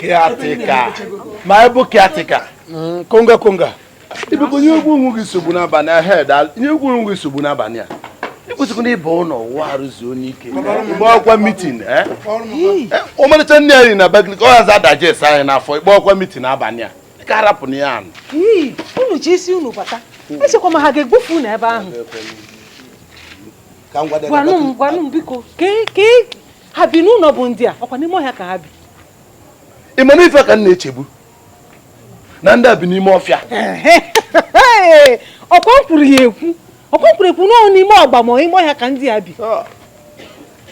caretaker ma ị bụ caretaker mm, konga konga ibekọ nye egwu onwe gị nsogbu n'abalị a head nye egwu onwe gị nsogbu n'abalị a ịkwụsịkwa na ịba ụlọ ụwa arụzuo n'ike ịgba ọkwa meeting eh? eh, ọmarịcha nri anyị na Abakaliki ọ hazi adigest anyị n'afọ ịgba ọkwa meeting abalị a ka arapụ na ya anụ unu ji isi unu bata echekwa m na ha ga-egbufu unu ebe ahụ gwanụ m gwanụ m biko ha bi n'ụlọ bụ ndị a ọkwa n'ime ọhịa ka ha bi ị ma na ife ka m na-eche bụ na ndị a bi n'ime ọfịa ọkwa m kwuru ya ekwu ọkwa m kwuru ekwu n'ọnụ n'ime ọgba ma ime ọhịa ka ndị a bi ah.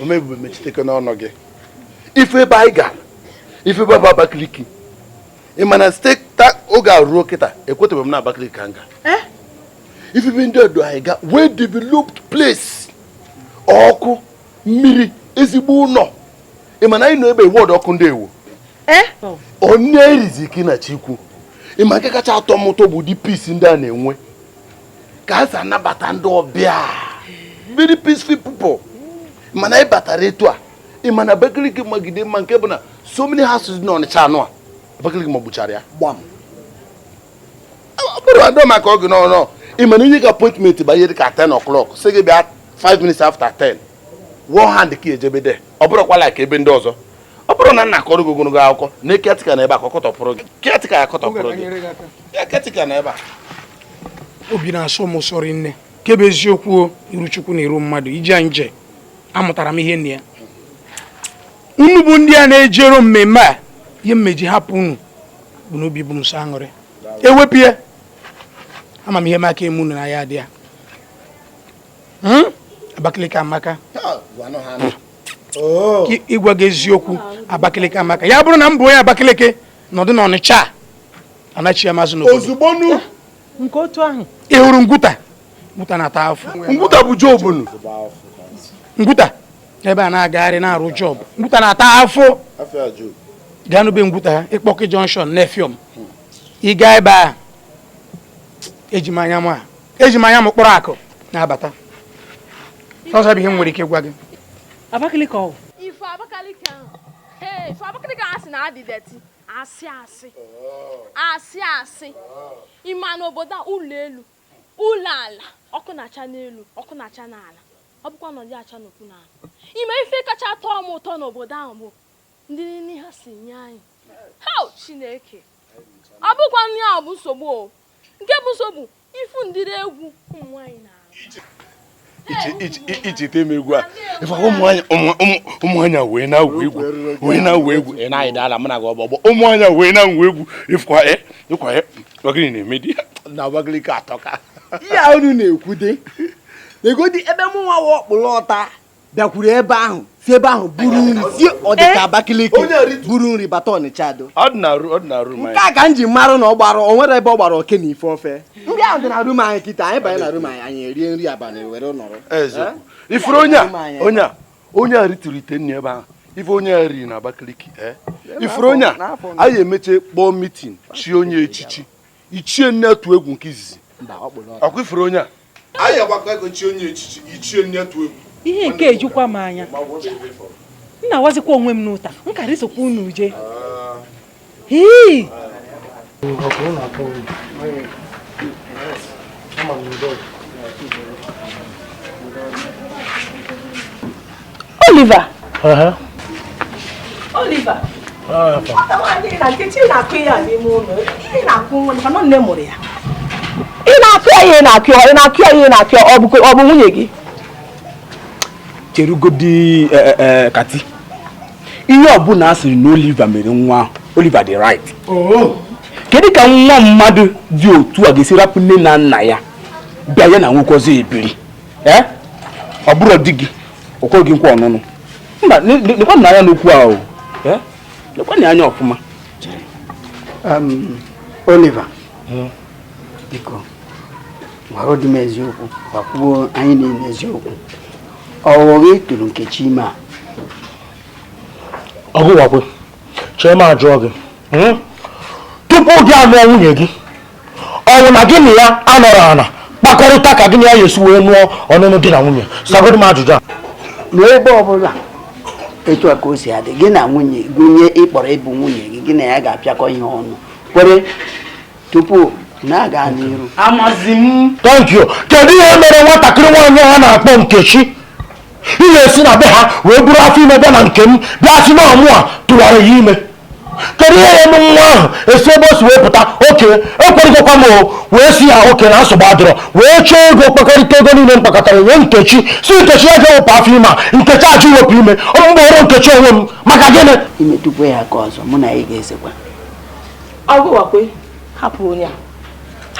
omebube mechiteke n'ọnụ gị ị fụ ebe anyị ga ị fụ ebe bụ Abakaliki ị ma na site oge a ruo kịta ekwetebe m na Abakaliki ka m ga eh? ị fụ ebe ndị a du anyị ga well developed place ọkụ mmiri ezigbo ụlọ ị ma na anyị nọ ebe wọdụ ọkụ ndị ewu eh? onye erizi ka ị na chukwu ị ma nke kacha atọ m ụtọ bụ ụdị peace ndị a na-enwe ka ha si anabata ndị ọbịa very peaceful people mana ị batara etu a ị ma na Abakaliki magide mma nke bụ na so many houses dị n'Ọnịcha anụ a Abakaliki magbuchara ya gbam bụrụ adọ maka oge n'ọrụ ị mana e nye gị appointment banyere ka 10 o'clock sị gị bịa 5 minutes after 10 one hand ka ejebe there ọ bụrọkwa like ebe ndị ọzọ ọ bụrọ na a na-akọrọ gị ogologo akụkọ na caretaker na ebe a ka ọ kọtọpụrụ gị caretaker ya kọtọpụrụ gị ya caretaker na ebe a obi na-asọ m ụsọ rinne nke bụ eziokwu iru chukwu na iru mmadụ ije anyị je amụtara m ihe na ya unu bụ ndị a na-ejero mmemme a ihe m e ji hapụ unu bụ na obi bụ m sọ aṅụrị ewepụ ya ama m ihe m aka eme unu na ya dị ya hmm? Abakaliki amaka oh. ịgwa gị eziokwu Abakaliki amaka ya bụrụ na m bụ onye Abakaliki nọdụ na Ọnịcha anachie m azụ n'obodo ozugbo eh, nke otu ahụ ị hụrụ ngwuta ngwuta na-ata afọ ngwuta bụ job ngwuta ebe a na-agagharị na-arụ job ngwuta na-ata afọ gaa nụ ebe ngwuta ha ịkpọkị junction na Effium ịga ebe a eji m anya ma eji m anya m kpọrọ akụ na-abata ọzọ bụ ihe m nwere ike gwa gị Abakaliki o ị fụ Abakaliki ahụ ee ị fụ Abakaliki ahụ a sị na ọ dị dirty asị asị asị asị ịma n'obodo a ụlọ elu ụlọ ala ọkụ na-acha n'elu ọkụ na-acha n'ala ọ bụkwa na ọ dị acha n'okpuru ala ị ma ife kacha tọọ m ụtọ n'obodo ahụ bụ ụdị nri ha si nye anyị ha chineke ọ bụkwa nri ahụ bụ nsogbu o nke bụ nsogbu ifu ụdịrị egwu ụmụ nwaanyị na icheta m egwu a ụmụanya wee na-awụ egwu wee na-awụ egwu ị na-ayị dala m na gị ọgbọgbọ ụmụanya wee na-awụ egwu ịkwa e, e, ọgịnị na-emedi na Abakaliki atọka ihe a unu na-ekwudegodi ebe mụ nwa wa ọkpụrụ ọta bịakwuru ebe ahụ si ebe ahụ buru nri si ọdịka eh? Abakaliki buru nri bata Ọnịcha do nke a ka m ji marụ na ọ gbara o nwere ebe ọ gbara oke na ife ofe ndị ahụ dị na rum anyị kịta anyị banye na rum anyị anyị erie nri abalị were nọrọ eh? ifuru onye a ritụrụ ite nri ebe ahụ ife onye a riri na Abakaliki eh? ifuru onye a anyị emeche kpọọ mitin chi onye echichi ichie nne atụ egwu nke izizi ọkwa ifuru onye a anyị agbakọ ego chi onye echichi ichie nne atụ egwu ihe nke ejukwa m anya m na-awazikwa onwe m n'ụta m kara isokwa unu je Oliver. Uh-huh. Oliver. Ah, ị na-akụ ya n'ime ụlọ ị na-akụ nwa maka nne mụrụ ya ị na-akụ ya ihe na-akụ ya ị na-akụ ya ihe na-akụ ya ọ bụ nwunye gị cherugodi eh, eh, eh, kati ihe ọbụla a sịrị na Oliver mere nwa ahụ Oliver dị right oh. kedu ka nwa mmadụ dị otu a ga-esi rapụ nne na nna ya bịa ya na nwoke ọzọ ebiri ọ bụrụ di gị o kwere gị nkwa ọnụnụ mba lekwanụ anya n'okwu ahụ lekwanụ anya ọfụma Oliver biko gwara dị m eziokwu gwakwuo anyị niile eziokwu ọ wụ gị tụrụ Nkechi ime a ọgụwakwe chee m ajụọ gị hmm? tupu gị anụọ nwunye gị ọ wụ na gị na ya anọrọ ana kpakọrịta ka gị na ya ya-esi wee nụọ ọnụnụ di na nwunye sagodi m ajụjụ a n'ebe ọbụla etu a ka o si adị gị na nwunye gị onye ị kpọrọ ịbụ nwunye gị gị na ya ga-apịakọ ihe ọnụ kwere tupu unu aga n'iru amazi m thank you kedu ihe mere nwatakịrị nwaanyị a na-akpọ Nkechi ji esi na be ha wee buru afọ ime bịa na nke m bịa sị na ọ mụa tụwara ya ime kedu ihe ya-eme nwa ahụ esi ebe o si wee pụta okay ekwerịgokwa m wee sị ya okay na nsogbu adịrọ wee chọọ ego kpakọrịta ego niile m kpakọtara nye Nkechi sị Nkechi ya gaa wepụ afọ ime a Nkechi ajụ iwepụ ime ọ bụrọ Nkechi onwe m maka gịnị i metụkwa ya aka ọzọ mụ na gị ga-esekwa hapụ onye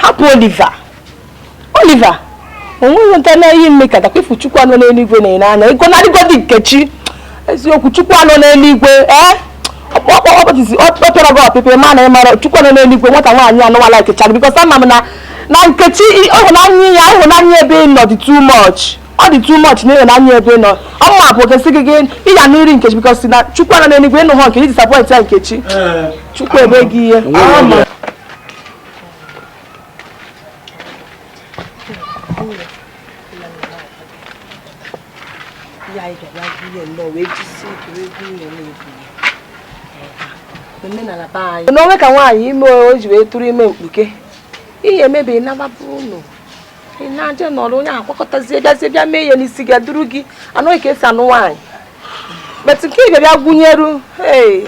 hapụ Oliver Oliver onweghị nta na ihe m mekatakwa ifu chukwu a nọ n'eluigwe na-ene anya ego na adịgodi nkechi eziokwu chukwu a nọ n'eluigwe ee ọ pịara gị ọpịpị ma na ị mara chukwu a nọ n'eluigwe nwata nwaanyị anụwa likechara because ama m na na nkechi ịhụnanya ya ịhụnanya ebe ị nọ dị too much ọ dị too much na ịhụnanya ebe ị nọ ọmụma bụ okesi gị gị ịya n'iri nkechi because na chukwu a nọ n'eluigwe ịnụ hụ nkechi disappoint ya nkechi chukwu ebe gị ihe ya anyị ga-abịa gụnye nnọọ wee jisie ike wee gụnye na-ebu omenala be anyị na o nwe ka nwaanyị ime o ji wee tụrụ ime mkpuke ihe emebi nabapụ ụlọ ị na-eje nọrọ onye akwakọtazie bịazie bịa mee ihe n'isi gị duru gị anụ gị ka esi anụ nwaanyị but nke ị ga-abịa gụnyeru ee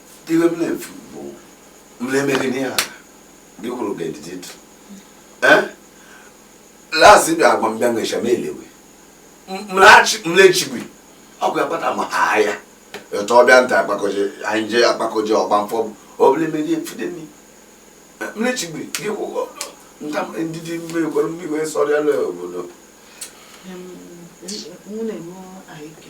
iwe m na-efu bụ mlemere n'ihe a gị kwuru ga edidi dụ last bịa agwa m bịa nwecha m elewe mlechigwe ọkụ ya kpata ma ha ya etu ọbịa nta akpakoje anyị jee akpakoje ọgba mfọ obere mmeri efide nri mlechigwe gị kwụkwọ nta ndị dị mmiri kwere mmiri wee sọrọ ya obodo nwunye m ahụike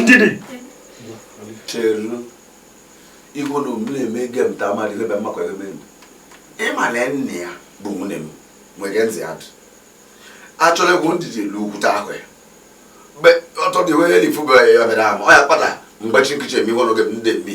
ndidi cheru igwe na omume na-eme ege m ta mmadụ ebe mmakwa ebe m ịmale nne ya bụ nwunye m nwere ntị adụ achọrọ egwu ndidi lu ukwute ahụ ya mgbe ọtọ dị wee elifu bụ ya bịara ama ọ ya kpata m gbachi nkịchị eme iwe n'oge m ndị mmi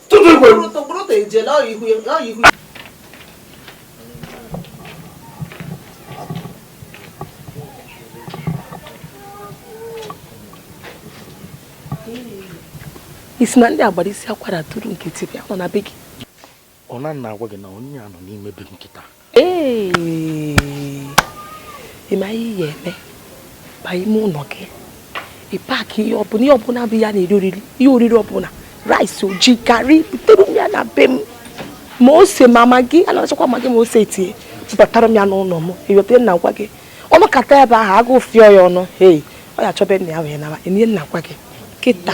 ị sị na ndị a gbara isi akwara tụrụ nkịtị bịa nọ na be gị ọ na-agwa gị na onye a nọ n'ime ebe a kịta ị ma ihe ị ya eme ba ime ụlọ gị ị pack ihe ọbụla ihe ọbụla bụ ihe a na-eri oriri ihe oriri ọbụla rice o ji garri butere m ya na be m ma ose ma maggi a na-achọkwa maggi ma ose etinye bubatara m ya n'ụlọ m eweta na-agwa gị ọ nọkata ebe ahụ agụụ fịọ ya ọnụ hei ọ ya achọbe nna ya wee naba ihe m na-agwa gị kịta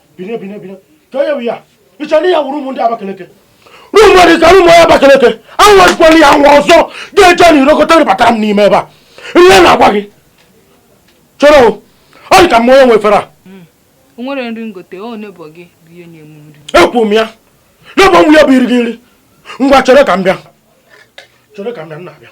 bine bine bine ka onye bụ ya ị chọrọ ihe wuru ụmụ ndị abakeleke rumu dị ka rumu onye abakeleke anwazikwana ya nwa ọzọ ga-eje na irokọta rịbatara m n'ime ebe a ihe na-agwa gị chọrọ ọ dị ka m ma onye nwefere a hmm. nwere nri ngote ọ nebọ gị bụ ihe nye m nri ekwu m ya n'ebe m ya bụ iri gị nri ngwa chere ka m bịa chere ka m bịa m na-abịa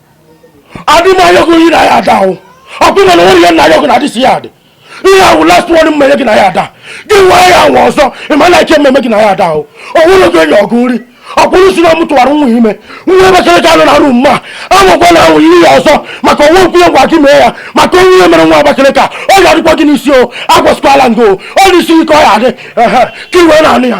adị m ayọ gụ ihe na yard ahụ ọ bụ na nwere ihe na-ayọ gụ na adịsi ya adị ihe ahụ last one m mere gị na yard a gị nwaa ya anwa ọzọ ị ma na ihe m ma eme gị na yard ahụ ọnwụrụ gị enyi ọgụ nri o kwuru sị na m tụwara nwa ime nwa Abakaliki a nọ na room ma anwụkwa na ahụ ihe ya ọzọ maka ọnwa nkwụnye gwa gị mee ya maka o nwee ihe mere nwa Abakaliki a ọ ga-adịkwa gị n'isi o agwasịkwala m gị o n'isi gị ka ọ ya adị ka i wee na-anụ ya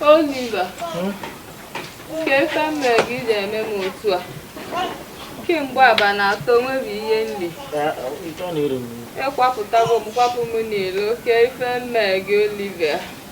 Oliver, kee ife m mere gị ji eme m otu a kemgbe abanị atọ nwebi ihe nri ị kwapụtago m kwapụ m n'ilo kee ife m mere gị Oliver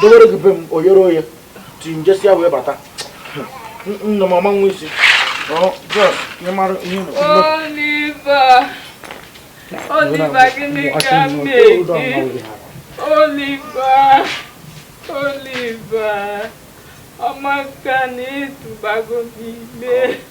dowere gị be m oyere oye ti njesi ya wee bata nna m ọma nwa isi ịmara ihe Oliver Oliver gịnị ka m mere gị Oliver Oliver ọ maka na ị tụbago m ime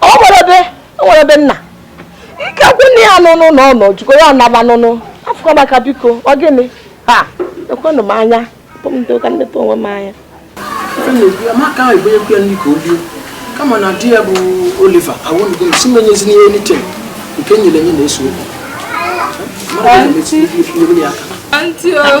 o nwere ebe o nwere ebe nna ike kwụ nne ya n'ụnọ na ọ nọ jikọ ya ọ naba n'ụnọ afụ Amaka biko ọ gịnị ha ekwenụ m anya pụ m ndị ụka nleta onwe m anya Amaka ahụ ebunye kwe nri ka o lie kama na di ya bụ Oliver awụnugo m sị m enyezina ihe n'ite nke nyere enye na-eso okwu mara na-emesi ihe ya aka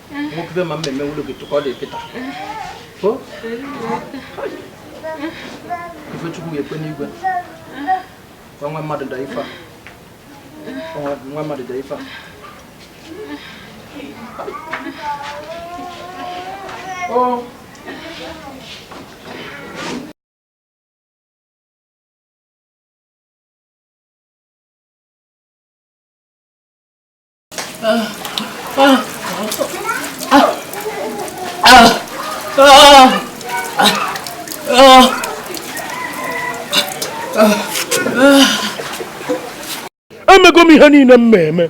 mokube ma mmemme nwụlọ gị tụkọ dị kịta ife Chukwu ga-ekwe n'igwe nwa mmadụ da ife nwa mmadụ da ife Oh. emego m ihe niile m ma eme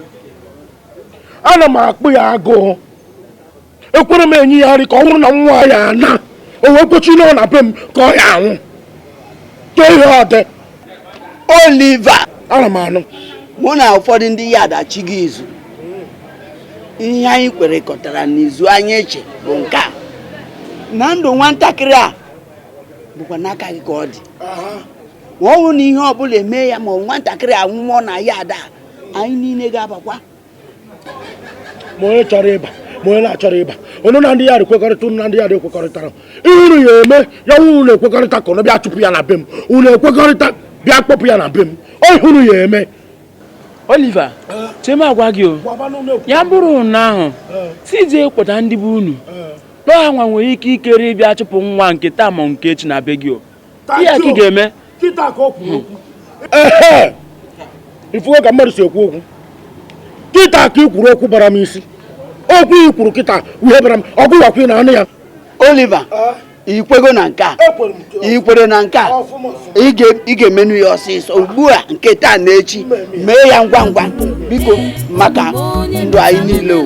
ana m akpụ ya agụụ ekwerọ m enye ya nri ka ọ nwụrụ na nwa ya na o wee kwechi na ọ na be m ka ọ ya anwụ too ihe ọ dị Oliver ana m anụ mụ na ụfọdụ ndị yard a chịga izu ihe anyị kwerekọtara n'izu anyị eche bụ nke a na ndụ nwatakịrị a bụkwa n'aka gị ka ọ dị ma ọ bụrụ na ihe ọbụla eme ya ma nwatakịrị a anwụọ na yard a anyị niile ga-abakwa ma onye chọrọ ịba ma onye na-achọrọ ịba onye na ndị ya ekwekọrịta unu na ndị ya ekwekọrịtara ihe unu ya eme ya nwe unu ekwekọrịta ka unu bịa chụpụ ya na be m unu ekwekọrịta bịa kpọpụ ya na be m ihe unu ya eme Oliver che m agwa gị o ya bụrụ na ahụ si jee kpọta ndị be unu na ọ hanwa nwere ikikere ịbịa chụpụ nwa nke taa ma nke echi na be gị o ihe ka ị ga-eme ị fụgo ka mmadụ si ekwu okwu kịta ka ị kwuru okwu bara m isi okwu ị kwuru kịta ihe bara m ọgụ wakwa ị na-anụ ya Oliver ah. i kwego na nke a i kwere na nke a ị ga-emenụ ya ọsịsọ ugbu a nke taa na echi mee ya ngwa ngwa biko maka ndụ anyị niile o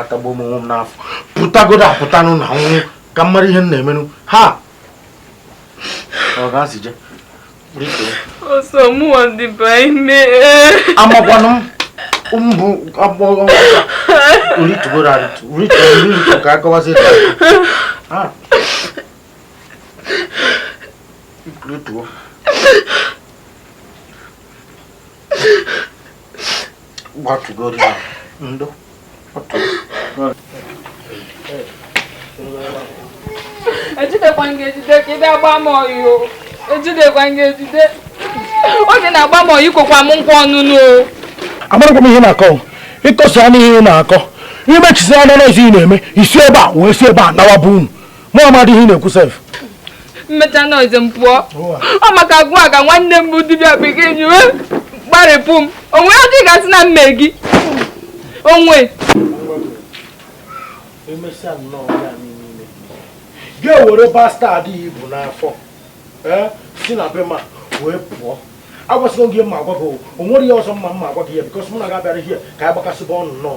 atagbuo m onwe m n'afọ pụtagodu apụtanụ na nwụ ka m mara ihe m na-emenụ ha ọ ga-asị je ọsọ mụwa dịba ime amakwanụ m mbụ agbọghọ olitugoro arịtụ olitugoro ka akọwazi ebe a olituo ejidekwa m ga-ejide ka ị bịa gbaa m oyi o ejidekwa m ga-ejide oge na-agba m oyi kwekwa m nkwa ọnụnụ o amarọkwa m ihe ị na-akọ ị kọsịanụ ihe ị na-akọ i mechasịanụ nzuzu ị na-eme i si ebe a wee si ebe a nawa be unu mụ amadị ihe ị na-ekwu sef m mechaa nọọsụ m pụọ ọ maka agwa ka nwanne m bụ dibịa bekee ji wee gbarịpụ m onwe ya dị gasị na m mee gị onwe gị ewere bastard i bu n'afọ eh, si na be m wee pụọ agwasịgo gị m ma agwa gị o nwere ihe ọzọ m ma agwa gị ya because mụ na gị abịarọ here ka anyị gbakasịba ọnụ nnọọ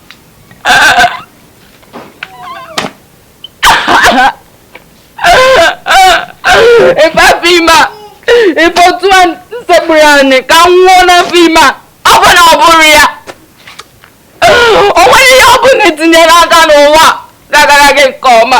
ị fụ afọ ime a ị fụ otu a m sekpuru anị ka m nwụọ n'afọ ime a ọ bụ na ọ bụrụ ya o nwerọ ihe ọ bụna i tinyere aka n'ụwa ga-agara gị nke ọma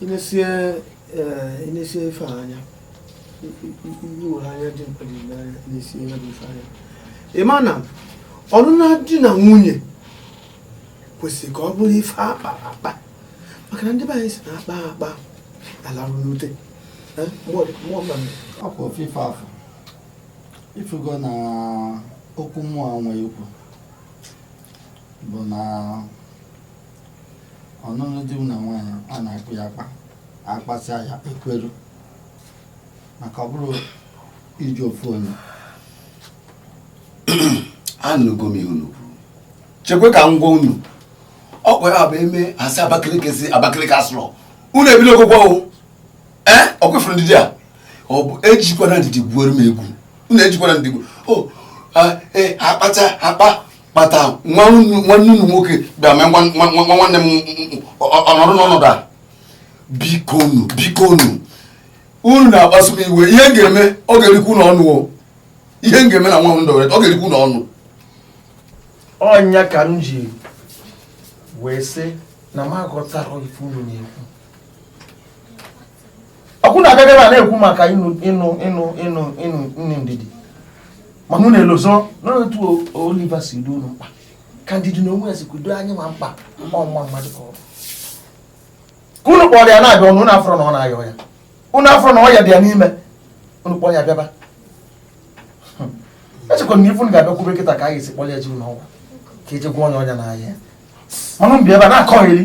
i nesie eh, ife anya i were anya dimkpa dị n'anya i nesie ya bụ ife anya ị ma na ọnụnụ di na nwunye kwesịrị ka ọ bụrụ ife a kpa akpa maka na ndị be anyị sị na a kpaa akpa a larụ n'ute eh, ọkwa ofe ife afụ ị fụgo na okwu mụ nwe ikwu bụ na ọnụnụ di na nwunye a na-akpa ya akpa akpasịa ya ekweru maka ọ bụrụ iji ofu ọnụ anụgo m ihe unu kwuru chekwe ka m gwa unu ọkwa ọ bụ eme asị Abakaliki si Abakaliki asụrọ unu ebido ogwụgwọ o ee ọkwa ị fụrụ ndidi a ọ bụ ejikwana ndidi gwuoro m egwu unu ejikwana ndidi gwuo akpata akpa kpata nwanne unu nwoke bịa mee nwanne m ọ nọdụ n'ọnọdụ a biko unu biko unu unu na-akpasu m iwe ihe m ga-eme ọ ga-erikwa unu ọnụ ihe m ga-eme na nwa m ndọrọ ọ ga-erikwa unu ọnụ ọ ya ka m ji wee sị na m aghọtarọ ife unu na-ekwu ọkwa unu abịa bịa na-ekwu maka ịnụ ndidi mana unu elozona otu Oliver si dị unu mkpa ka ndidi na onwe ya si kudo anyị ma mkpa ọ nwa mmadụ ka ọ bụ ka unu kpọrọ ya na-abịa ọnụ unu afụrọ na ọ na-ayọ ya unu afụrọ na ọ ya dị ya n'ime unu kpọrọ ya bịaba hmm. echekwa na ife unu ga-abịa kwube kịta ka a ga-esi kpọrọ ya je ụnọ ọgwụ ka eje gwọ onye ọnya n'ahịa mana unu bịa ebe a na-akọghịrị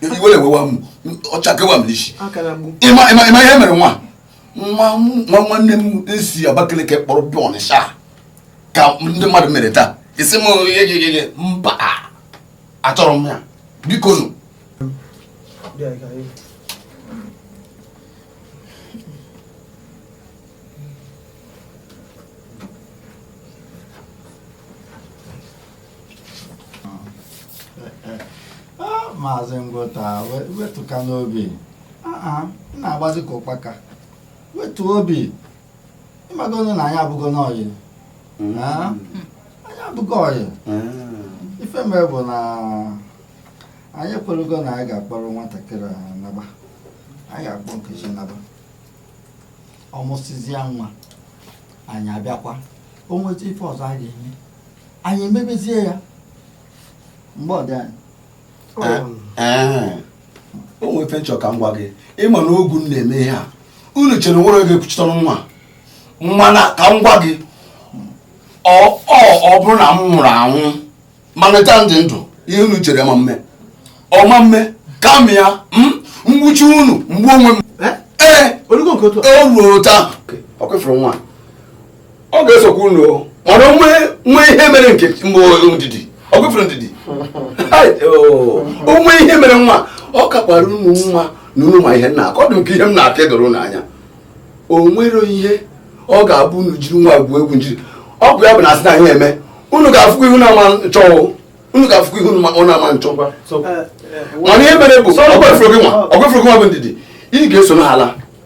iwe ewewa m ọcha kewa m n'isi ịma ihe mere nwa nwanne m esi Abakaliki kpọrọ bịa Ọnịsha ka ndị mmadụ mere taa isi m egegege mba achọrọ m ya biko nụ maazị ngwụta wetukanụ obi ị na-agbazi ka ụkpaka wetu obi ịmagonụ na anyị abụgonụ ọyị mm. anyị abụgo ọyị mm. ife mere bụ na anyị ekwerugo na anyị ga-akpọrọ nwatakịrị a naba anyị ga-akpọ nkechi naba ọ mụsịzịa nwa anyị abịakwa o nwezi ife ọzọ a ga-eme anyị emebezie ya bịa dị anyị o nwee ife m chọrọ ka m gwa gị ịma na ọ gị na-eme ihe a unu chere nwerọ onye ekwuchite ọnụ nwa mana ka m gwa gị ọ ọ bụrụ na m nwụrụ anwụ mana taa m dị ndụ ihe unu chere ma mme ọ ma mme kama ya m gbuchie unu m gbuo onwe m ee o ruo taa ọkwa ị fụrụ nwa ọ ga-esokwa unu mana o nwee ihe mere nke ndidi ọ gụfere ndidi o nwee ihe mere nwa ọ kakwara unu mma na unu ma ihe m na-akọ ọ dị ka ihe m na-akọ edoro unu anya o nwere ihe ọ ga-abụ unu jiri nwa gwuo egwu njiri ọ bụ ya bụ na asị na ihe eme unu ga-afụkwa ihu na-ama nchọ unu ga-afụkwa ihu ọ na-ama nchọ mana ihe mere bụ ọgwefụrụ gị nwa ọgwefụrụ gị nwa bụ ndidi ị ga-eso n'ala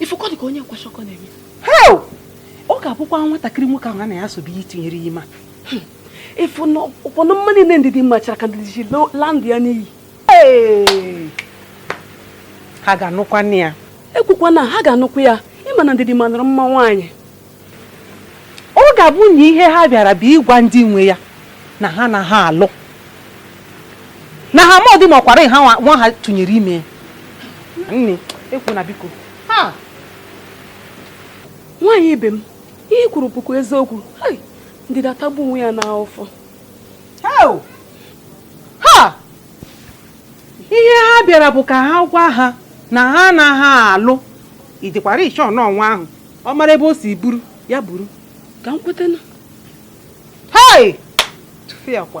ị fụ ka ọ dị ka onye kwashịọkọ na-eme ọ ga-abụkwa nwatakịrị nwoke ahụ ya na ya so bụ ya tinyere ya ime ị fụnụkwanụ mma niile ndidi machara ka ndidi si la ndụ ya n'iyi ha ga-anụkwanụ ya ekwukwa na ha ga-anụkwa ya ị ma na ndidi manụrụ mma nwaanyị ọ ga-abụ na ihe ha bịara bụ ịgwa ndị nwe ya na ha anaha alụ na ha amadị ma ọkwara nwa ha tụnyere ime nne ekwuna biko nwaanyị ibe m ihe i kwuru bụkwa eziokwu ndidi atagbu onwe ya n'afụfụ ha ihe ha bịara bụ ka ha gwa ha na ha anaha alụ ị dịkwara sure na nwa ahụ ọ mara ebe o si buru ya buru ka m kweta na hei tụfịa kwa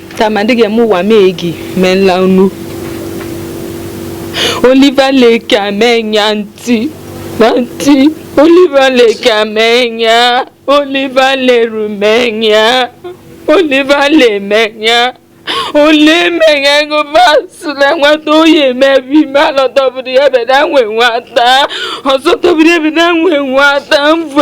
Tamadịghị m ụwa mee gị mee nla unu Oliver Lake amenya ntị na ntị Oliver Lake amenya Oliver Leru menya Oliver Lemenya ole mmenya ego vasụla nwata oyi emebi ime alọtọbụrụ ya beda nwe nwata ọzọ tọbụrụ ya beda nwe nwata mvụ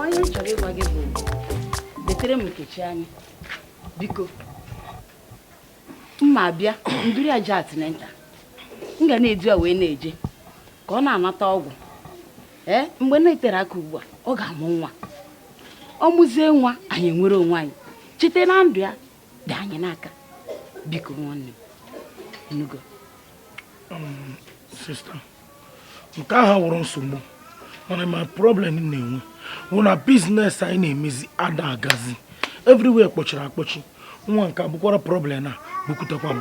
onye m chọrọ ịgwa gị bụ betere m nkechi anya biko ma m bịa m duru ya jee antenatal m ga na-edu ya wee na-eje ka ọ na-anata ọgwụ ee eh, mgbe na-eterọ aka ugbu a ọ ga-amụ nwa ọ mụzie nwa anyị nwere onwe anyị chete na ndụ ya dị anyị n'aka biko nwanne m nugo um, nke ahụ wụrụ nsogbu mana my problem m na-enwe wụ na business anyị na-emezi ada agazi everywhere kpọchiri akpọchi nwa nke a bukwara problem a bukutekwa m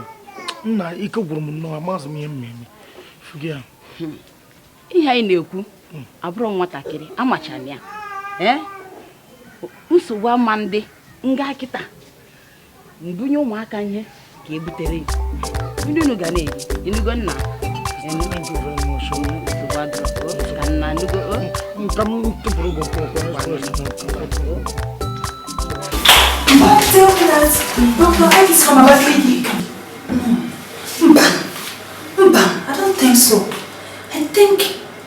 nna ike gwụrụ m nnọọ amazị m ihe m na-eme hmm. ihe anyị na-ekwu hmm. ọ bụrụ nwatakịrị a machara ihe nsogbu ama adị nga kịta m bunye ụmụaka ihe ka e butere ndị unu ga na-eri ị nụgo nna mba mba I don't think so I think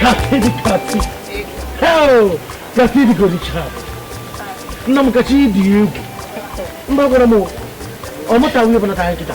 Kati di kati. Hell! Kati di kodi chap. Na Nkechi dị egwu. Mba gwara m ọ mụta nwunye bụ nata anyị kịta.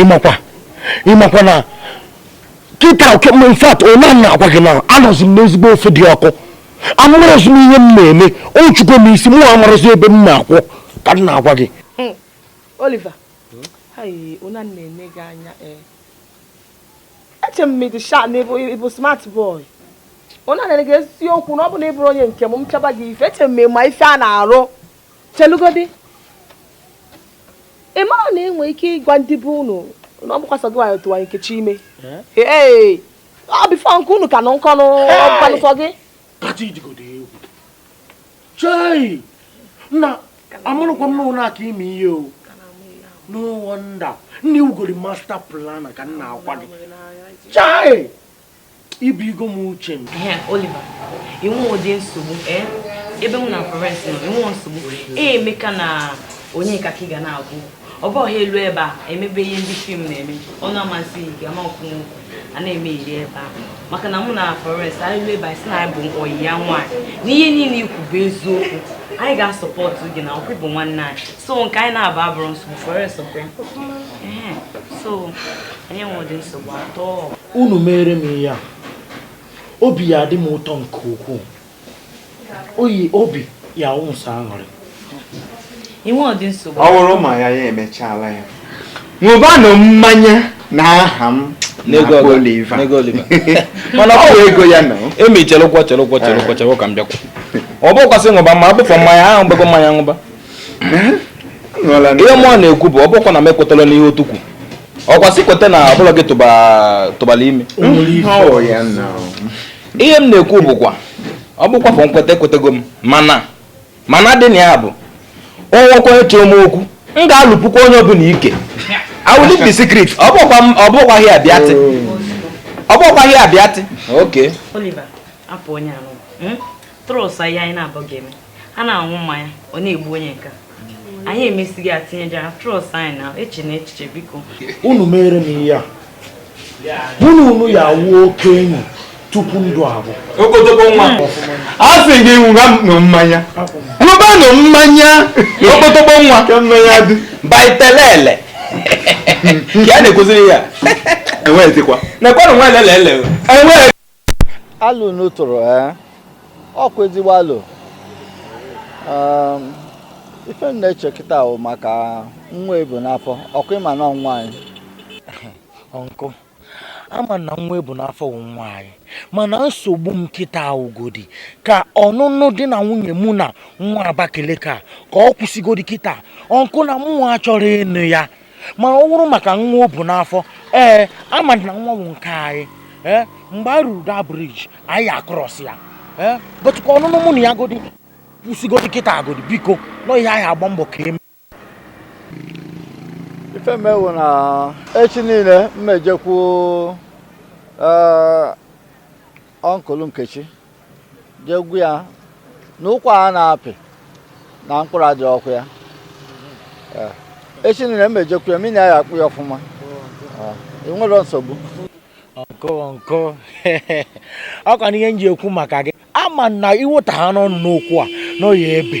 ịmakwa ịmakwa na kịta okay in fact ọnwa m na-agwa gị na anọzi m n'ezigbo ofe dị ọkụ amarọzi m ihe m na-eme ọ chụgo m isi mụ amarọzi ebe m na-akwụ ka m na-agwa gị hmm. Oliver ọnwa m na-ene gị anya eh. eche m ma ị dị sharp na ị bụ smart boy ọnwa m na-ene gị eziokwu na ọ bụ na ị bụrụ onye nke m m chaba gị ife eche m ma ife a na-arụ chelugodi ị mara na i nwe ike ịgwa ndị be unu na ọ bụkwa sọ gị nwa tụwa Nkechi ime ee ọ before nke unu ka nụ nkọnụ ọ bụkwanụ sọ gị chai nna amarọkwa m na unu aka ịma ihe o no wonder na e nwegori master plan ka m na-agwa gị chai ibu igo m uche m Oliver i nwerọdị nsogbu eh? ebe mụ na Florence nọ i nwerọ nsogbu e, emeka na onye ka ị ga na-agwụ ọ bụ ha elu ebe a emebe ihe ndị film na-eme ọ na-amasị gị ama ọkwụ nwoke a na-eme iri ebe ahụ maka na mụ na Florence anyị elu ebe ahụ sị na anyị bụ ọyị ya nwaanyị na ihe niile i kwu bụ eziokwu anyị ga-support gị na ọkwa ị bụ nwanne anyị so nke anyị na-aba abụrọ nsogbu Florence ọkwa ya so anyị enwerọ nsogbu at all unu mere m ihe a obi ya-adị m ụtọ nke ukwuu ọyị obi ya ụsọ aṅụrị i nwerọdị nsogbu ọ bụrụ ma ya ya emechaala ya ṅụbanụ mmanya na aha m mana ọ ego ya na emi chelụkwọ chelụkwọ chelụkwọ eh. chelụkwọ ka m bịakwa ọ bụkwa sị ṅụba ma abụfọ mmanya ahụ m gba ego mmanya ṅụba eh? ihe mụwa na-ekwu bụ ọ bụkwa na m ekwetala n'ihe otu kwu ọkwa sị kweta na ọ bụ gị tụbara ime ihe m na-ekwu bụkwa ọ bụkwa for nkweta ekwetego m mana mana dị na ya bụ o nwekwa onye chọọ m okwu m ga-alụpụkwa onye ọbụla ike I will leak the secret ọ bụkwa m- ọ bụkwa ihe abịatị ọ bụkwa ihe abịatị okay Oliver apụ onye anụ trouser ihe anyị na-abụ ga-eme a na-aṅụ mmanya ọ na-egbu onye nke a. anyị emesighị atinyejara trọs anyị na eche na echiche biko unu mere m ihe a mụ na unu ya awụ oke enyi tupu ndụ abụ okpotokpo nwa a sị gị ṅụwanụ mmanya ṅụbanụ mmanya okpotokpo nwa baitelele ka a na-ekwuziri ya enweghịzikwa nekwanụ nwa elele ele enweghị alụ unu tụrụ ee eh? ọkwa ezigbo alụ ehm, ife m na-eche kịta wụ maka nwa e bu n'afọ ọkwa ị ma na nwa anyị uncle a ma na nwa e bu n'afọ wụ nwa anyị mana nsogbu m kịta wụgodi ka ọnụnụ di na nwunye mụ na nwa Abakaliki a ka ọ kwụsịgodi kịta uncle na mụnwa achọrọ ịnụ ya ma ọ wụrụ maka nwa o bu n'afọ ee a ma na nwa bụ nke anyị ee mgbe e ruru the bridge anyị a-cross ya ee but ka ọnụnụ mụ na ya godi kwụsịgodi kịta agodi biko na ị ya-agba mbọ ka e mee ife mewu na echi niile m ejekwu uncle Nkechi jee gwa ya na ụkwa a na-apị na mkpụrụ adịrọkwa ya eh, echi nile m ejekwu ya mụ na ya akpaa ọfụma eh, enwere nsogbu uncle ọkwa na ihe m ji ekwu maka gị a ma na iweta ha n'ọnụ n'okwu a na ọ ya-ebe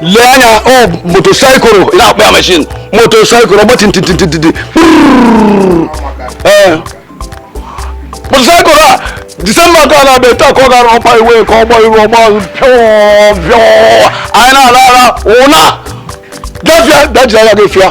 lee anya ọ motorcycle ị na-akpọ ya machine motorcycle ọgba tintintintiti ee motorcycle a December ka a na-abịa taa ka ọ gara ọkpa iwe ka ọgba iru ọgba pịọọ pịọọ anyị na-ala ala ụna gafịa dajiri anya gị fịa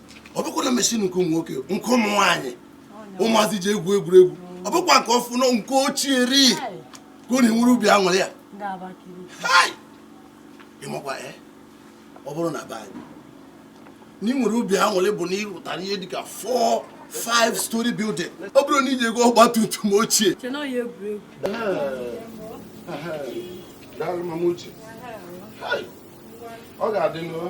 ọ bụkwa na machine nke ụmụ nwoke nke ụmụ nwaanyị ụmụazị ji egwu egwuregwu ọ bụkwa nke ọfụ na nke ochie ri ka unu nwere obi aṅụrị ya ị makwa eh? ọ bụrụ na be anyị na i nwere obi aṅụrị bụ na ị rụtara ihe dịka four five story building ọ bụrụ na i ji ego ọgba tum tum ochie ọ ga-adị n'ụlọ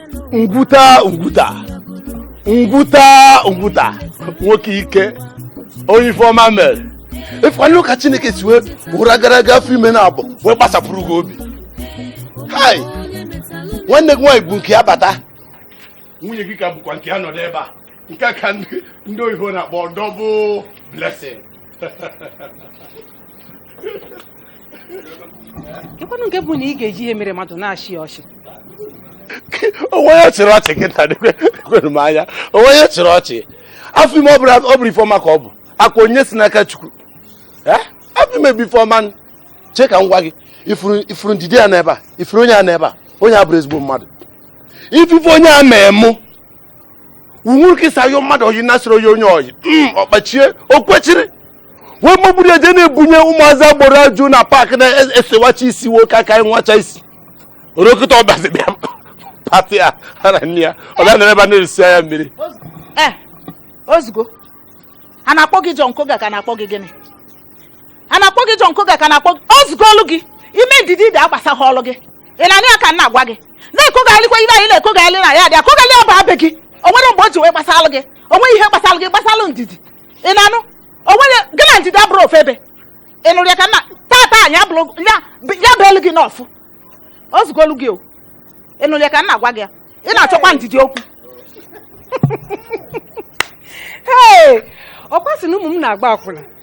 ngwuta ngwuta ngwuta ngwuta nwoke ike onye ife ọma mere ị fụkwanụ ka chineke si wee ụra gara aga afọ ime naabọ wee gbasapụrụ gị obi hai nwanne gị nwaanyị bu nke ya bata nwunye gị ka bukwa nke ya nọdụ ebe a nke a ka ndị ndị oyibo na-akpọ double blessing ịkwanụ nke bụ na ị ga-eji ihe mere mmadụ na-achị ọchị onwe ya chịrị ọchị kịta kwere m anya onwe ya chịrị ọchị afọ ime ọ bụrọ ife ọma ka ọ bụ ọkwa onyinye si n'aka chukwu afọ ime bụ ife ọma chee ka m gwa gị ị fụrụ ndidi a n'ebe a ị fụrụ onye a n'ebe a onye a abụrọ ezigbo mmadụ ị fụ ife onye a mee mụ uwe kịsa yo mmadụ oyi nasịrị oyi onye oyi mm, ọkpachie o kwechiri wee magburu eje na-ebunye ụmụazị agboro ajụ na paakị na-esewacha isi nwoke aka nwacha isi orokịta ọbazi bịa pati a ha na nne ya ọ bịa nọrọ ebe a na-eresi ya mmiri ee ozugbo a na-akpọ gị John Koga ka na-akpọ gị gịnị a na-akpọ gị John Koga ka na-akpọ gị o zugolu gị ime ndidi agbasahọlụ gị ị na-anụ ya ka m na-agwa gị na-ekogharịkwa ihe anyị na-ekogharị na ya dị akogharị ya bụ abịa gị o nwere mgbe o ji wee gbasalụ gị o nweghị ihe gbasalụ gị gbasalụ ndidi ị na-anụ o nwere gị na ndidi abụrọ ofu ebe ị nụrụ ya ka nna tata anyị abụrụ ya ya bụ elu gị n'ọfụ o zugolu gị o ị nụrụ ya ka m na-agwa gị ya ị na-achọkwa ndidi okwu ee ọkwa sị na ụmụ m na-agba akwụna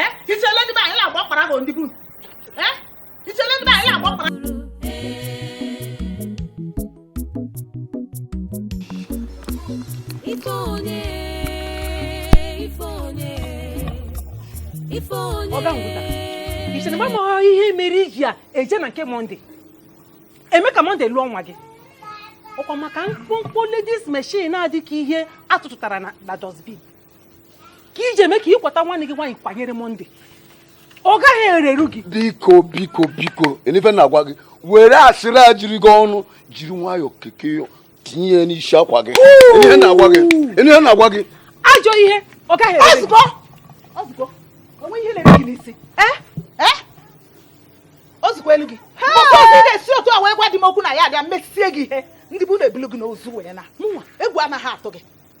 eh, ichele ndị be anyị na-agba ọkpara bụ ndị bụ eh, ichele ndị be anyị na-agba ọkpara ọga ihe mere iji a eje na nke Monday eme ka Monday lụọ nwa gị ọkwa maka mkpụmkpụ ladies machine a dị ka ihe atụtụtara na dustbin ka iji eme ka ịkwata nwa gị nwaanyị kwanyere Monday ọ gaghị erere gị biko biko biko lee ife m na-agwa gị were asịrị ejiri gị ọnụ jiri nwayọọ keke tinye ya n'isi akwa gị lee ife m na-agwa gị lee ife m na-agwa gị ajọ ihe ọ gaghị ere gị ozugbo o nwe ihe na-ere gị n'isi eh? Eh? o zugolu gị maka ozi na-esi otu a wee gwa di m okwu na ya abịa mesie gị ihe ndị be unu ebulu gị n'ozu wee na egwu anaghị atụ gị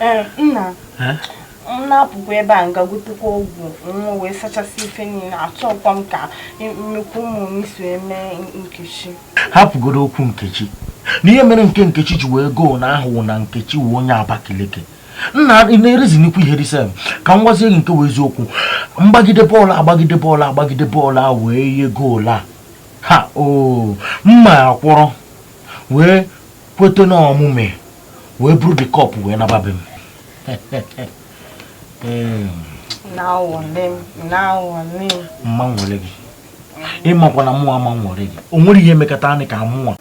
Eh, nna eh? m na-apụkwa ebe a m ga gotekwa ọgwụ nwa wee sachasị ife niile achọkwa m ka nnukwu ụmụ m si eme nkechi hapụgodu okwu nkechi na ihe mere nke nkechi ji wee goo na ahụ wụ na nkechi wụ onye abakaliki nna na-erizi nnukwu ihe risem ka m gwazie gị nke wụ eziokwu mgbagide bọọlụ agbagide bọọlụ agbagide bọọlụ a wee nye goolu a ha o mma akwụrụ wee kwete na omume wee buru the cup wee naba be m mma nwere gị ịmakwa na mụnwa ma nwere gị o nwere ihe emekata anyị ka mụnwa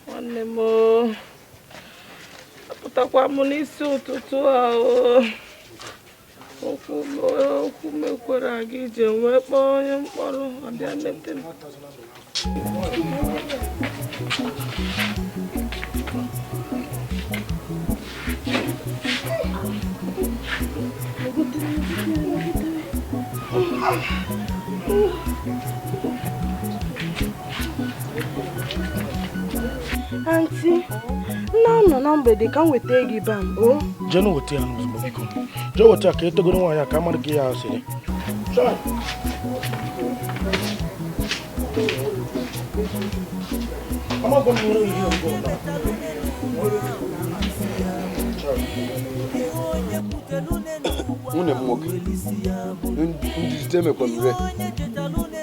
nwanne m apụtakwa m n'isi ụtụtụ ahụ okwu okwu mekwara gị ji wee kpọọ onye m kpọrọ ọ bịa mete m Oh, aunty nna m nọ na mgbede ka m weta gị mba o jeenụ weta ya n'ozugbo biko jee weta ya ka etogoro nwaanyị a ka mmadụ ka ya asịrị amaghị m nwere ihe ọgụ nwunye m nwoke ndị jide emekwa m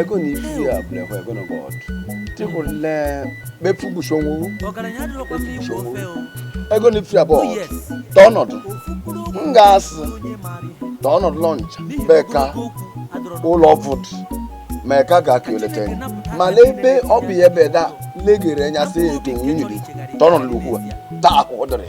ego na ibu ya bụlekwa ego na bọọdụ tịkwụle mefu gbuchonwu ego na ifu ya bọọdụ tọ ọnọdụ m ga-asị tọ ọnọdụ lọncha beka ụlọ vụdụ ma ka ga ka eleta ya mana ebe ọ bụ ya ebe da legere anya sị eto nwunye dị tọrọ n'ugwu a taa akwụkwọ dịrị